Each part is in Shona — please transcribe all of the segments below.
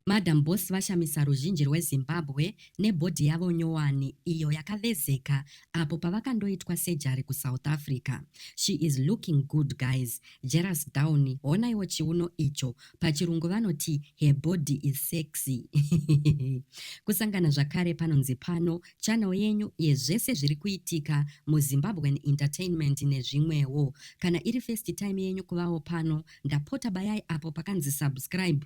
Madam Boss vashamisa ruzhinji rweZimbabwe nebody yavo nyowani iyo yakavezeka apo pavakandoitwa surgery kuSouth Africa. She is looking good guys. Jealous down honaiwo chiuno icho. Pachirungu vanoti her body is sexy. Kusangana zvakare panonzi pano channel yenyu yezvese zviri kuitika muZimbabwean entertainment nezvimwewo. Kana iri first time yenyu kuvawo pano ndapota bayai apo pakanzi subscribe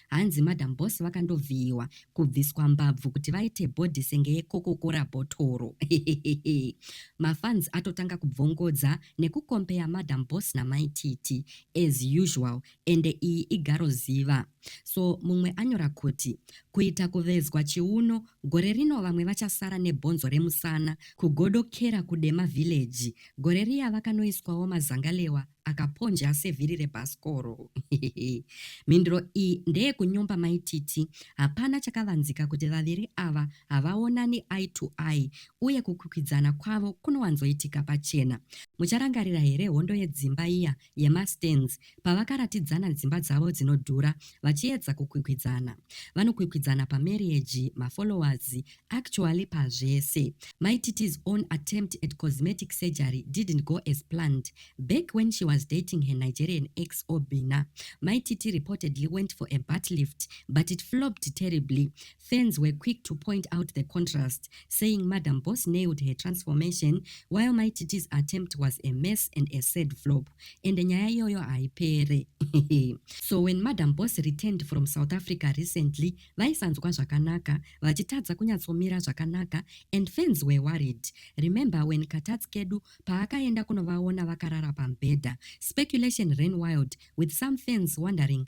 hanzi madam boss vakandovhiyiwa kubviswa mbabvu kuti vaite body senge yekokokora bhotoro hehehehe mafans atotanga kubvongodza nekukompeya madam boss namai titi as usual ende iyi igaro ziva so mumwe anyora kuti kuita kuvezwa chiuno gore rino vamwe vachasara nebhonzo remusana kugodokera kudema village Gore riya vakanoiswawo mazangalewa akaponja sevhiri rebhasikoro. Mhinduro iyi ndeyekunyomba mai Titi. Hapana chakavanzika kuti vaviri ava havaonani eye to eye uye kukwikwidzana kwavo kunowanzoitika pachena. Mucharangarira here hondo yedzimba iya yemastands pavakaratidzana dzimba dzavo dzinodhura vachiedza kukwikwidzana vanokwikwidzana pamarriage mafollowers actually pazvese my tit's own attempt at cosmetic surgery didn't go as planned back when she was dating her nigerian ex obina my tit reportedly went for a bat lift but it flopped terribly Fans were quick to point out the contrast, saying Madam Boss nailed her transformation while Mighty T's attempt was a mess and a sad flop. Ende nyaya iyoyo haipere. so when Madam Boss returned from South Africa recently, vaisanzwa zvakanaka, vachitadza kunyatsomira zvakanaka and fans were worried. Remember when Katats Kedu paakaenda kunovaona vakarara pamubhedha, speculation ran wild with some fans wondering